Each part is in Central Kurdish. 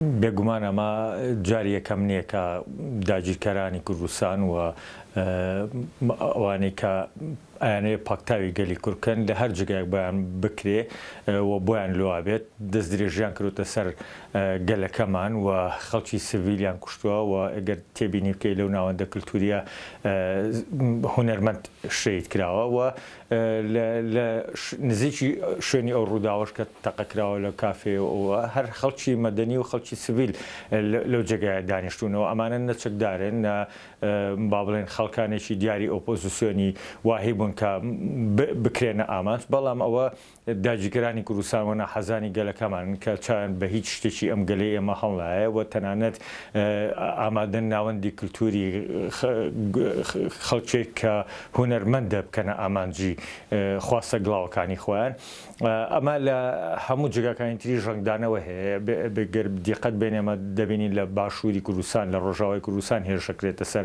بێگومان ئەمە جاری یەکەم نییە کە داگیرکەرانی کوردستان و ئەوانەی کە ئەیانەوێت پاکتاوی گەلی کورد بکەن لە هەر جێگایەک بۆیان بکرێ و بۆیان لوا بێت دەستدرێژییان کردووەتە سەر گەلەکەمان و خەڵکی سڤیلیان کوشتووە و گەر تێبینی بکەی لەو ناوەندە کلتوورییە هونەرمەند شەهید کراوە و لە نزیکی شوێنی ئەو ڕووداوەش کە تەقە کراوە لە کافێ و هەر خەڵکی مەدەنی و خەڵکی سڤیل لەو جێگایە دانیشتوونەوە، ئەمانە نە چەکدارن نە با بڵێن خەڵکانێکی دیاری ئۆپۆزیسیۆنی واهی بوون کە بکرێنە ئامانج، بەڵام ئەوە داگیرکەرانی کوردستان و ناحەزانی گەلەکەمانن کە چاویان بە هیچ شتێکی ئەم گەلەی ئێمە هەڵنایە و تەنانەت ئامادەن ناوەندی کلتووری خەڵکێک کە هونەرمەندە بکەنە ئامانجی خواستە گڵاوەکانی خۆیان. ئەمە لە هەموو جێگاکانی تری ژەنگدانەوە هەیە. گەر دیقەت بێنێمە دەبینین لە باشووری کوردستان، لە ڕۆژاوای کوردستان هێرشەکرێتە سەر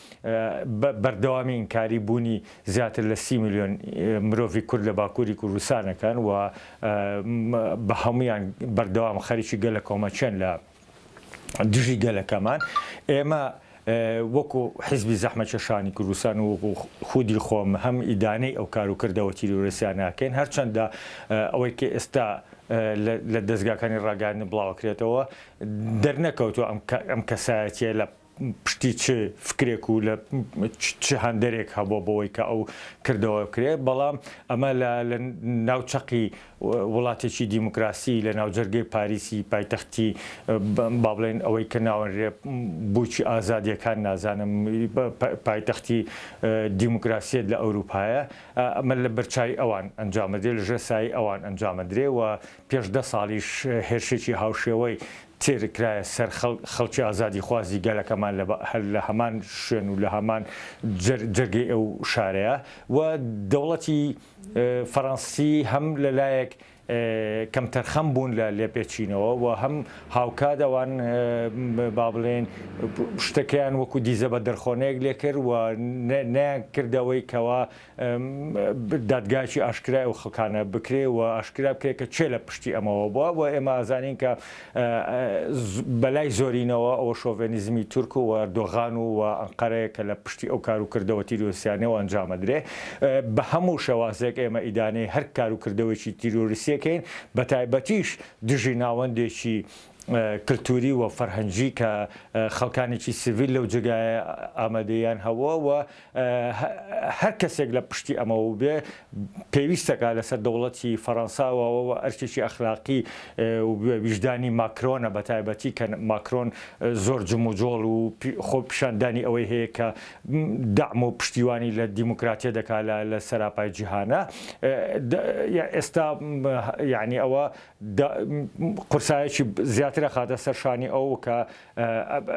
بە بەردەوامی ئینکاری بوونی زیاتر لە سی ملیۆن مرۆڤی کورد لە باکووری کوردستان ئەکەن و بە هەموویان بەردەوام خەریکی گەلە کۆمەکێن لە دژی گەلەکەمان ئێمە وەکو حزبی زەحمەکێشانی کوردستان و خودی خۆم هەم ئیدانەی ئەو کار و کردەوە تیرۆرسیان ناکەین هەرچەندە ئەوەی کە ئێستا لە دەستگاکانی ڕاگەاندن بڵاوەکرێتەوە دەرنەکەوتو ئەم کەسایەتە لە پشتی چ فکرێک و لە چ هەندەرێک هەبووە بۆوەی کە ئەو کردەوە بکرێت، بەڵام ئەمە لە ناو چەقی وڵاتێکی دیموکراسی لە ناوجەرگەی پاریسی پایتەختی با بڵێن ئەوەی کە ناوەنرێ بووکی ئازادیەکان نازانم پایتەختی دیموکراسیەت لە ئەوروپایە ئەمە لە بەرچاوی ئەوان ئەنجامەدرێ لە ژێر سایەی ئەوان ئەنجامەدرێ و پێش دە ساڵیش هێرشێکی هاوشێوەی تێرکرایە سەر خەڵک، خەڵکی ئازادیخوازی گەلەکەمان لە هەر لە هەمان شوێن و لە هەمان جەرگەی ئەو شارەیە و دەوڵەتی فەرەنسی هەم لە لایەک کەمتەرخەم بوون لە لێپێچینەوە و هەم هاوکات ئەوان با بڵێین شتەکەیان وەکوو دیزە بە دڕخۆنەیەک لێ کرد و نەیانکرد ئەوەی کەوا دادگایەکی ئاشکرای ئەو خەڵکانە بکرێ و ئاشکرا بکرێ کە کێ لە پشتی ئەمەوە بووە و ئێمە ئازانین کە بە لای زۆرینەوە ئەوە شۆڤێنیزمی تورک و ئەردۆغان و ئەنقەرەیە کە لە پشتی ئەو کار و کردەوە تیرۆرسیانەیە و ئەنجام ئەدرێ بە هەموو شێوازێک ئێمە ئیدانەی هەر کار و کردەوەیەکی تیرۆریستی ئەکەین بە تایبەتیش دژی ناوەندێکی کلتوری و فەرهەنگی کە خەڵکانێکی سڤیل لەو جێگایە ئامادەییان هەبووە و هەر کەسێک لە پشتی ئەمەوە بێ پێویستەکە لەسەر دەوڵەتی فەرەنسا واوەوە ئەرکێکی ئەخلاقی و ویژدانی ماکرۆنە بەتایبەتی کە ماکرۆن زۆر جموجۆڵ و خۆ پیشاندانی ئەوەی هەیە کە دەعم و پشتیوانی لە دیموکراتیە دەکا لە سەراپای جیهانە ئێستا یەعنی ئەوە قورسایەکی زیاتر ئەخاتە سەر شانی ئەو کە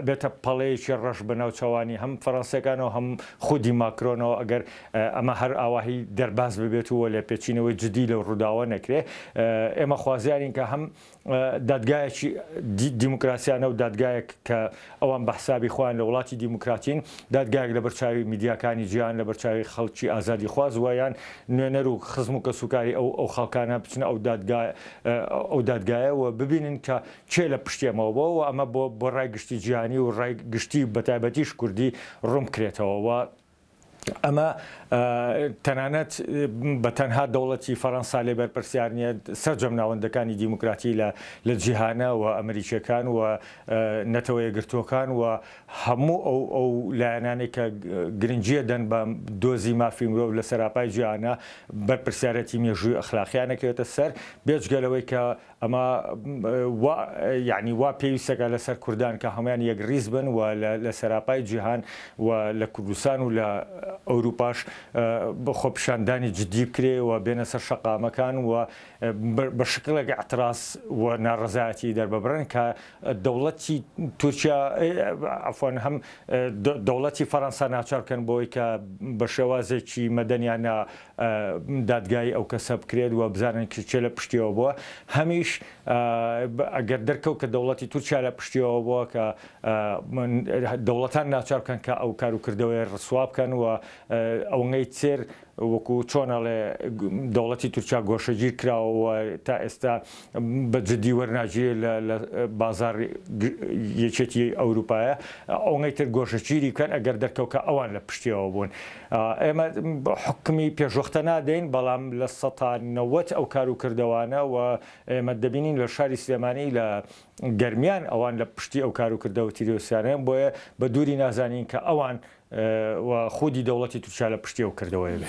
بێتە پەڵەیەکی ڕەش بە ناوچەوانی هەم فەرەنسیەکانەوە هەم خودی ماکرۆنەوە ئەگەر ئەمە هەر ئاواهی دەرباز ببێت و لێپێچینەوەی جدی لەو ڕووداوە نەکرێ ئێمە خوازیارین کە هەم دادگایەکی دیموکراسیانە و دادگایەک کە ئەوان بە حسابی خۆیان لە وڵاتی دیموکراتین دادگایەک لەبەر چاوی میدیاکانی جیهان لەبەر چاوی خەڵکی ئازادی خواز وە یان نوێنەر و خزم و کەسوکاری ئەو ئەو خەڵکانە بچنە ئەو دادگایە ئەو دادگایە وە ببینن کە کێ لە پشتیەمەوە بووە و ئەمە بۆ بۆ ڕای گشتی جیهانی و ڕای گشتی و بەتایبەتیش کوردی ڕوون بکرێتەوە و ئەمە تەنانەت بە تەنها دەوڵەتی فەڕەنسا لێ بەرپرسیار نییە سەرجەم ناوەندەکانی دیموکراتی لە لە جیهانە و ئەمریکییەکان و نەتەوە یەکگرتووەکان و هەموو ئەو ئەو لایەنانێک کە گرنگییە دەن بە دۆزی مافی مرۆڤ لە سەراپای جیهانە بەرپرسیارێتی مێژووی ئەخلاقییان ئەکەوێتە سەر بێجگە لەوەی کە ئەمە وا یەعنی وا پێویستەکە لەسەر کوردان کە هەموان یەک ڕیز بن و لە سەراپای جیهان و لە کوردستان و لە ئەوروپاش خۆپیشاندانی جدی بکرێ و بێنە سەر شەقامەکان و بە شکڵێک ئیعتراز و ناڕەزایەتی دەرببڕن کە دەوڵەتی تورکیا عەفوەن هەم دەوڵەتی فەرەنسا ناچار بکەن بۆی کە بە شێوازێکی مەدەنیانە دادگایی ئەو کەسە بکرێت و بزانن کە کێ لە پشتیەوە بووە، هەمیش ئەگەر دەرکەوت کە دەوڵەتی تورکیا لە پشتیەوە بووە کە دەوڵەتان ناچار بکەن کە ئەو کار و کردەوەیە ڕسوا بکەن و ئەونەی تر وەکو چۆن ئەڵێ دەوڵەتی تورکیا گۆشەگیر کراوە و تا ئێستا بە جدی وەرناگیرێت لە لە بازاڕ یەکێتی ئەوروپایە ئەونەی تر گۆشەگیری بکەن ئەگەر دەرکەوت کە ئەوان لە پشتیەوە بوون ئێمە حکمی پێشوەختە نادەین بەڵام لە سەتا نەوەت ئەو کار و کردەوانە و ئێمە دەبینین لە شاری سلێمانی لە گەرمیان ئەوان لە پشتی ئەو کار و کردەوە تیرۆسیانەیە بۆیە بە دووری نازانین کە ئەوان و خودی دەوڵەتی تورکیا لە پشتی ئەو کردەوەیە بێ.